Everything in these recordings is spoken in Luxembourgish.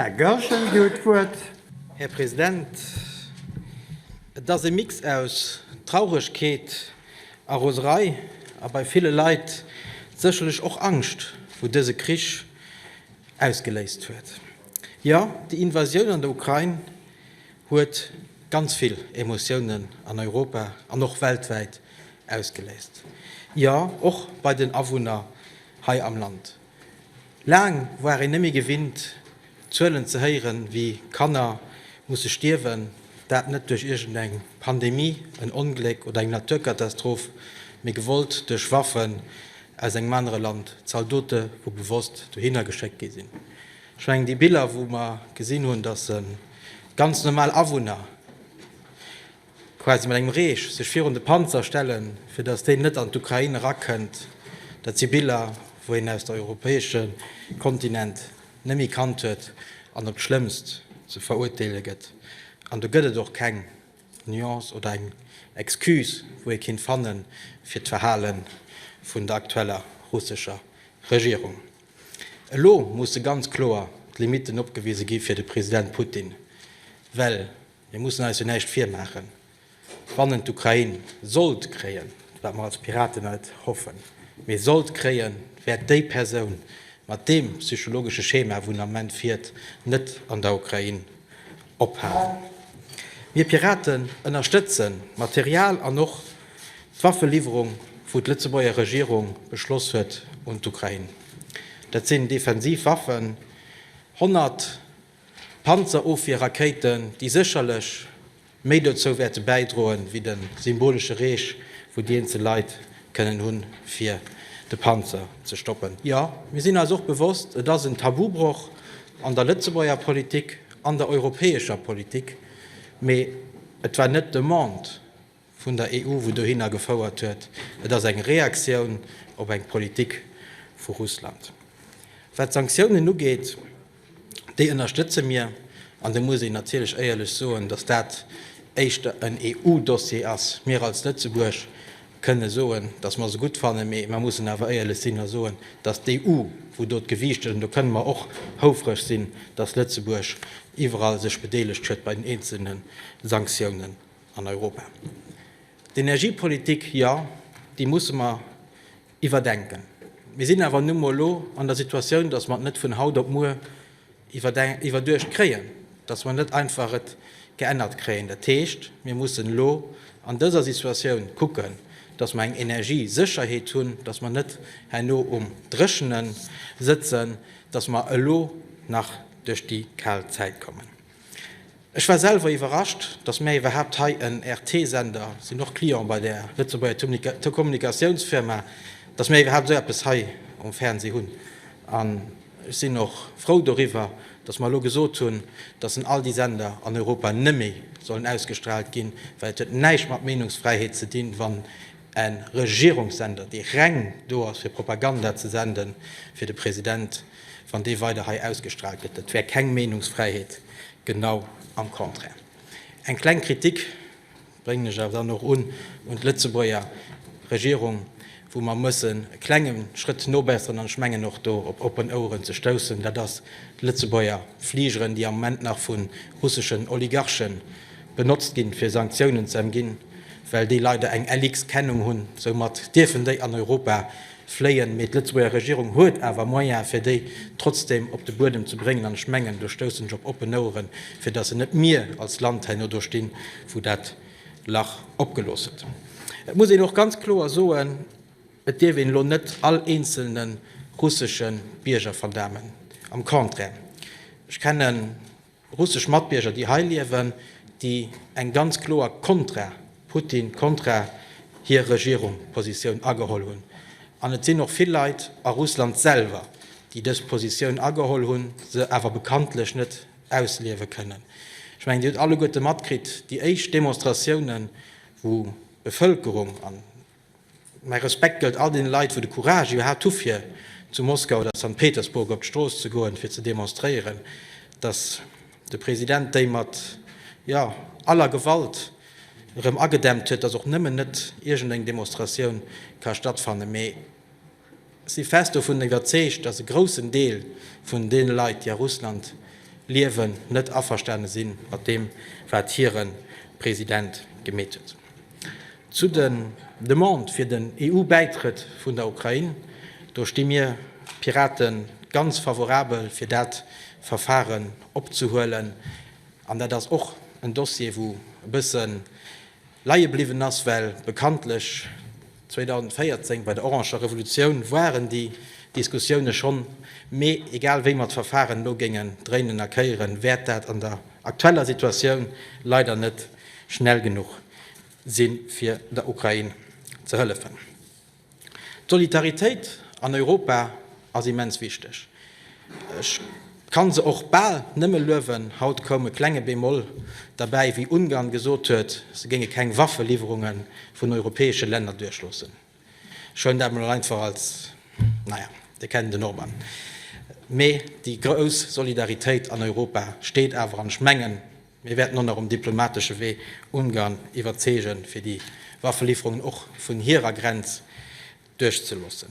Här Goergen, Dir hutt d'Wuert. Här President, et ass e Mix aus Trauregkeet a Roserei a bei ville Leit sécherlech och Angscht, wou dëse Krich ausgeléist huet. Jo, déi Invasioun an der Ukrain huet ganz vill Emotiounen an Europa an och weltwäit ausgeléist, jo och bei den Awunner hei am Land. Laang war een nëmme gewinnt Zuelen ze héieren, wéi Kanner musse stierwen, dat net duerch iergend eng Pandemie, en Ongléck oder eng Naturkatastroph, mee gewollt duerch Waffen aus engem anere Land, Zaldote wou bewosst dohinner geschéckt gi sinn. Ech mengen déi Biller wou mer gesinn hunn, datt se ganz normal Awunner quasi mat engem Reech sech virun de Panzer stellen, fir datt deen net an d'Ukrain erakënnt, dat si Biller, wou een aus der europäesche Kontinent net méi kannt huet an op d'Schlëmmst ze verurteele gëtt. An do gëtt et och keng Nuance oder eng Excuse, wou ee kinnt fannen, fir d'Verhale vun der aktueller russescher Regierung. Elo musse ganz kloer d'Limitten opgewise gi fir de President Putin, well Mir mussen eis jo näischt virmaachen, Wann d'Ukrain sollt kréien, wat mer als Piraten et hoffen, mee sollt kréien, wäert déi Persoun mat deem psychologesche Schema, wou en am Moment fiert, net an der Ukrain ophalen. Mir Piraten ënnerstëtze Material an och d'Waffeliwwerung, wou d'Lëtzebuerger Regierung beschloss huet, un d'Ukrain. Dat sinn defensiv Waffen, 100 Panzerofwierrakéiten, déi sécherlech méi dozou wäerte bäidroen, wéi de symbolesche Reech, wou déi eenzel Leit kënnen hunn, fir de Panzer ze stoppen. Jo, mir sinn eis och bewosst, et ass en Tabubroch an der Lëtzebuerger Politik, an der europäescher Politik, mee et war net d'Demande, vun der EU, wou dohinner gefouert huet, et ass eng Reaktioun op eng Politik vu Russland. Wat d'Sanktiounen ugeet, déi ënnerstëtze mir, an da muss een natierlech éierlech soen, datt dat éischter en EU-Dossier ass. Mir als Lëtzebuerg kënne soen, datt mer se gutt fannen, mee mer mussen awer éierlech sinn a soen, datt d'EU, wou do d'Gewiicht huet, an do kënne mer och houfreg sinn, datt Lëtzebuerg iwwerall sech bedeelegt huet bei den eenzelne Sanktiounen. an Europa. D'Energiepolitik, jo, déi musse mer iwwerdenken. Mir sinn awer nu mol elo an der Situatioun, datt mer et net vun haut op muer iwwerduecht kréien, datt mer net einfach et geännert kréien. Dat heescht, mir mussen elo an dëser Situatioun kucken, datt mer eng Energiesécherheet hunn, datt mer net herno um Dréchene sëtzen, datt mer elo nach duerch déi kal Zäit kommen. Ech war selwer iwwerrascht, dass mär iwwerhaapt hei en RT-Sender, sinn och Client bei der Lëtzebuerger Telekommunikatiounsfirma, dass mär iwwerhaapt esou eppes hei um Fernsee hunn. An ech sinn och frou doriwwer, dass mer elo gesot hunn, dass en all déi Sender an Europa neméi sollen ausgestraalt ginn, well et huet näischt mat Meenungsfräiheet ze dinn, wann e Regierungssender, dee reng do ass fir Propaganda ze senden, fir de President, wann dee weider hei ausgestraalt gëtt. Dat wär keng Meenungsfräiheet, genau am Contraire. Eng kleng Kritik bréngen ech awer dann och un un d'Lëtzebuerger Regierung, wou mer mussen e klenge Schrëtt nobesseren, an ech mengen och do op oppen Oueren ze stoussen, dat ass d'Lëtzebuerger Fligeren, déi am Moment nach vu russeschen Oligarchen benotzt ginn, fir Sanktiounen ze emginn, well déi leider eng LX-Kennung hunn. Soumat dierfen déi an Europa Fléien, mee d'Lëtzebuerger Regierung huet awer Moyen, fir déi trotzdem op de Buedem ze bréngen. An ech mengen, do stoussen ech op oppen Oueren, fir dass se net mir als Land herno do stinn, wou dat Lach opgelooss huet. Et muss een och ganz kloer soen, Et dierf een elo net all eenzelne russesche Bierger verdamen, am Contraire. Ech kennen. Russesch Matbierger, déi hei liewen, déi eng ganz kloer Kontra-Putin, Kontra-hir-Regierung Positioun ageholl hunn. An et sinn och vill Leit a Russland selwer, déi dës Positioun ageholl hunn, se awer bekanntlech net ausliewe kënnen. Ech mengen, Dir hutt alleguerte matkritt, déi éischt Demonstratiounen, wou d'Bevëlkerung, an Mäi Respekt gëllt all deene Leit, wou de Courage gehat hu fir zu Moskau oder Sankt Petersburg op d'Strooss ze goen, fir ze demonstréieren, datt de President déi mat, jo, aller Gewalt erëm agedämmt huet, datt och nëmmen net iergendeng Demonstratioun ka stattfannen, mee. Si fest dovun iwwerzeegt, datt e groussen Deel vun deene Leit, déi a Russland liewen, net averstane si mat deem, wat hire President gemeet huet. Zu den Demandë fir den EU-Bäitrëtt vun der Ukrain, do sti mir Pirate ganz favorabel, fir dat Verfaren opzehuelen. An dat ass och en Dossier, wou e bësse leie bliwwen ass, well bekanntlech, 2014 bei der oranger Revolutioun waren déi Diskussioune schonn, mee egal wéi mer d'Verfaren elo géingen dréinen a kéieren, wäert dat an der aktueller Situatioun leider net schnell genuch sinn, fir der Ukrain ze hëllefen. D'Solidaritéit an Europa. ass immens wichteg. Ech kann se och bal nëmme luewen. Haut koum e klenge Bémol derbäi, wéi Ungarn gesot huet, se géinge keng Waffeliwwerunge vun europäesche Länner duerchloossen. Schonn dat mol einfach als, naja, Dir kennt den Orban. Mee déi grouss Solidaritéit an Europa steet awer an ech mengen, mir wäerten och nach um diplomatesche Wee Ungarn iwwerzeege fir déi Waffeliwwerungen och vun hirer Grenz, duerchzeloossen.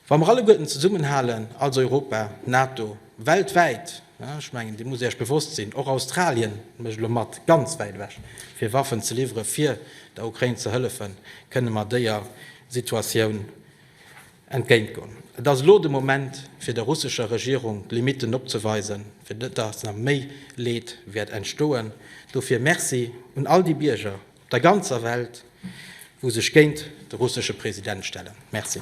Wa mer alleguerten zesummenhalen, als Europa, NATO, weltwäit, ech mengen, deem musst Dir Iech bewosst sinn, och Australien mécht elo mat, ganz wäit ewech, fir Waffen ze liwwere fir der Ukrain ze hëllefen, kënne mer déer Situatioun entgéintgoen. Et ass elo de Moment, fir der russescher Regierung d'Limitten opzeweisen, fir net, datt nach méi Leed wäert entstoen. Dofir Merci un all déi Bierger, der ganzer Welt, wou sech géint de russesche President stellen. Merci.